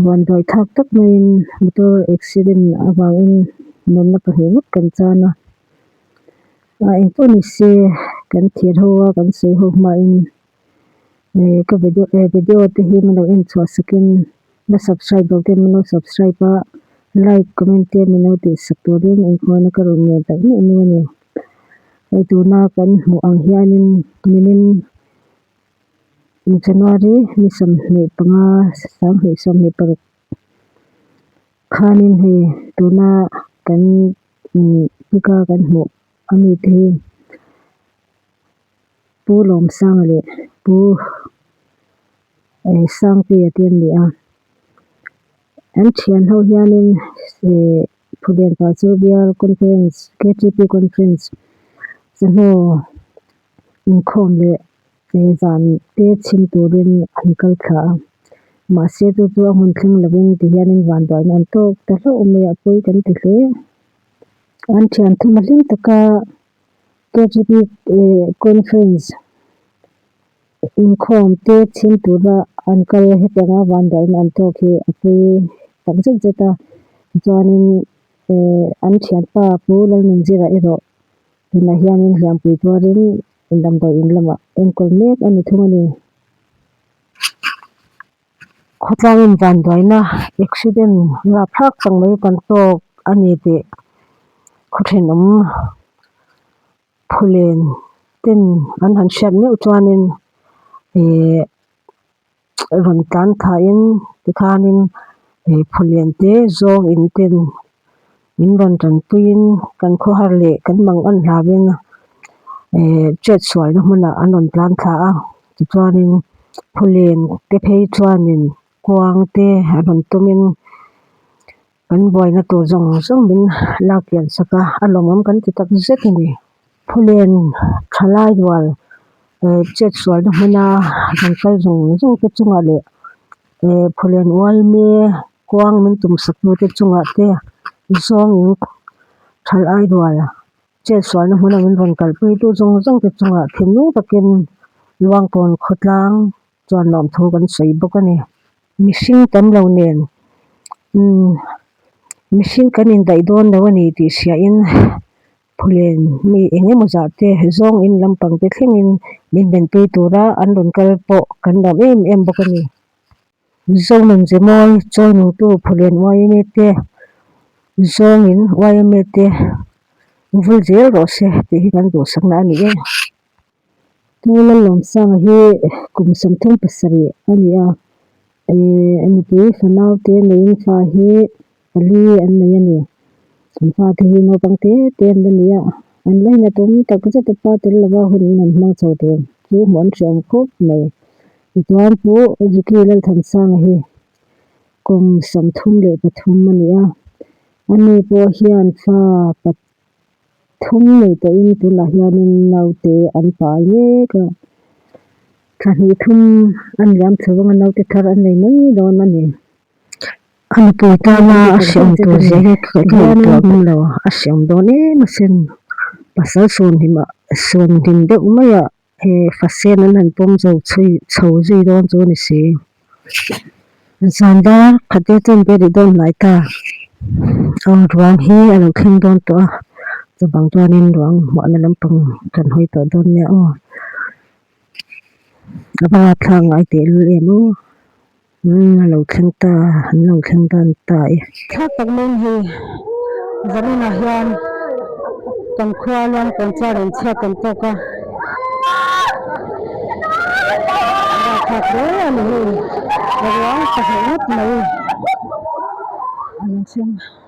huan duai thak tak maiin motor accident avangin mutna pahnih vak kan tan a a engpawh ni se kan thlir ho a kan sawi ho hmain ihh ka video e video te hi min lo en chhuah sakin la subscribe lo te min lo subscribe a like comment te min lo tih sak tur hi min engkhawnna ka rawn ngaih tak ngei mai a ni hei tuna kan hmuh ang hianin mimin-- January ni sawmhnih panga sanghnih sawmhnih paruk khanin hei tuna kan inbika kan hmuh a mi te hi Pu Lawmsang leh Pu Sangpuia te an ni a, an thian ho hianin ihh Phulian pah chu Bial Conference KTP Conference sahnaw-- inkhawm leh leh zan te chhim turin an kal thla a, mahse chu chu a hun thleng lovin ti hianin vanduai an awm tawk ta hlauh mai a pawi kan ti hle. An thian thima hlim taka KGB eh conference inkhawm te chhim tura an kal hetianga vanduai in awm tawk hi a pawi tak zet zet a tichuanin eh an thianpa pu Lalminzira erawh-- Tunah hianin hliampui tuarin damdawi in lamah enkawl mek a ni thung a ni. Khawtlangin vanduaina accident nga phlak chang mai kan tawk a ni tih khawthianawm phulen ten an han hriat meuh chuanin ihh. rawn tlan thla in tikhan in he phawlian te zawng in ten in rawn tan pui in kan khawhar leh kan mang an hla in eh chet suai na hmun ah an rawn tlan thla a tichuan in phawlen te phei chuan in kuang te a rawn tum in-- Kan buaina tur zawng zawng min lak pian sak a, a lawmawm kan ti tak zet a ni. Phulen thalai rual eh chetsualna hmuna kan kal zawng zawng te chungah leh eh phulen uaime kuang min tum sak tu te chungah te zawngin thalai rual chetsualna hmuna min rawn kalpui tu zawng zawng te chungah thinlung takin luangkawn khawtlang, Chuan lawmthu kan sawi bawk a ni. Mihring kan lo nen mihring kan indaih dawn lo a ni tih hria in phulen mi eng emaw zah te zawng in lam pang te thleng in min ben pui tur a an rawn kal pawh kan lawm em em bawk a ni. Zonan Zemawi chawinung tu phulen yma te zawng in yma te vul zel rawh se tih hi kan duhsakna a ni e. Chu Lal Lawmsanga hi kum sawmthum pasarih a ni a, a nupui fanaute neiin fa hi pali an nei a ni. An fate hi naupang te te an la ni a, an la ina tum tak zeta pa tel lova hun in an hmang chho tur chu hmuh an hriam khawp mai. Tichuan Pu Zukii Lalthansanga hi kum sawmthum leh pathum a ni a, ani pawh hian fa Thum nei pahin tunah hianin naute an pâl mêk a, thahni thum a ni lam chho vang a, naute thar an nei mai dâwn a ni. A nupui tâna a hreawm tûr zia hi ka hmuh tuah ngam lo, a hreawm dâwn êm asin. Pasal suan hlim deuh maiah He fasen an han pawm zo chhui chho zui dawn chu a ni si. Zan dar khate chuan biah leh dawn hnai ta. Aw ruang hi a lo thleng dawn tawh a, chubang chuanin ruang hmuahna lampang kan hawi tawh dawn nia aw. A banga thla ngai tehlul em aw. Umm a lo thleng ta a, an lo thleng dan ta e. Thlak tak mai ni. Zaninah hian kan khua luang tawn chuan an chhiat tawn tawk a. Dah thlak hle a ni hei, ruang pahnih ngawt mai a rawn chhung a.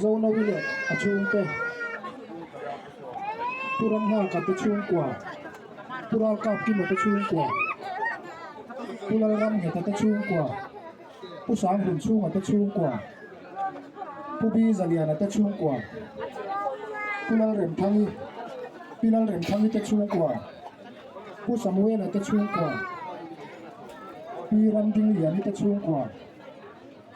Zo no ila a chhungte Pu Ramhlaka te chhungkua, Pu Ralkap Kima te chhungkua, Pu Lalram Heta te chhungkua, Pu Sang Hun Chunga te chhungkua, Pu Bi Zaliana te chhungkua, Pu Lalrem Thangi, Pi Lalrem Thangi te chhungkua, Pu Samuela te chhungkua, Pi Ramding Liani te chhungkua,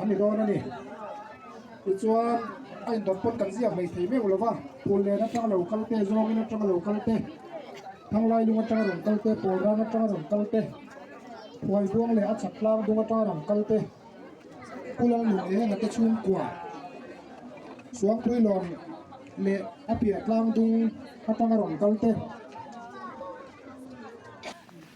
a ni dawn a ni tichuan a inrawn pawn kan ziak hmel thei meuh lova phul nen atanga lo kal te zawng in atanga lo kal te thanglai lung atanga rawn kal te pawl rang atanga rawn kal te huai buang leh a chhak tlang dawng atanga rawn kal te kulawng lung leh hengate chhungkua suangpui lawng leh a piah tlang dung atanga rawn kal te.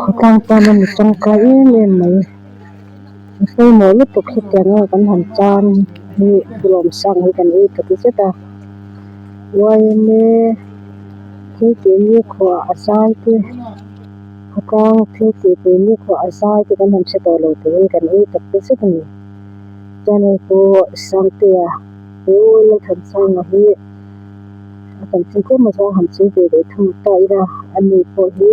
Khawtlang chuan a ni tangkai em em mai. A sawimawi lutuk hetiang nge kan han tan hi Kulawm sang hi kan ei ta ki zet a. Yma thil tih ni khuah a zai te, khawtlang thil tih tur ni khuah a zai te kan han hre tawh lo tih hi kan ei tak ta zet a ni. Chuan hei chu Sangtea Ula Thanchhana hi. A kan thil tlem azawng han sawi ve leh thung ta ila, a nu pawh hi.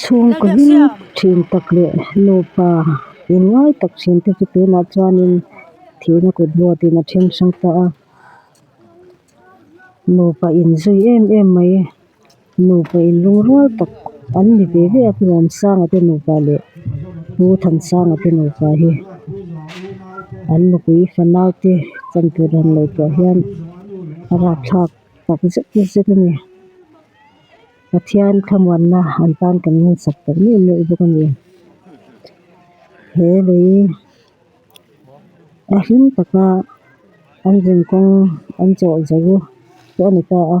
Chhungkaw hlim thin tak leh nupa eng ngai tak thin te chu tunah chuanin thihna kut buatin a then chhung ta a nupa inzui em em mai. Nupa in ringrâwr tak an ni ve ve a Puramsangate nupa leh Pu Thansangate nupa hi an nupui fanaute chantur han lo tawh hian a rapthlak tak zet zet a ni. Pathian thlamuanna an tan kan ngun sak tak meuh meuh bawk a ni. He lei a hlim taka an zin kawng an chawhzah ruh pawh a ni ta a.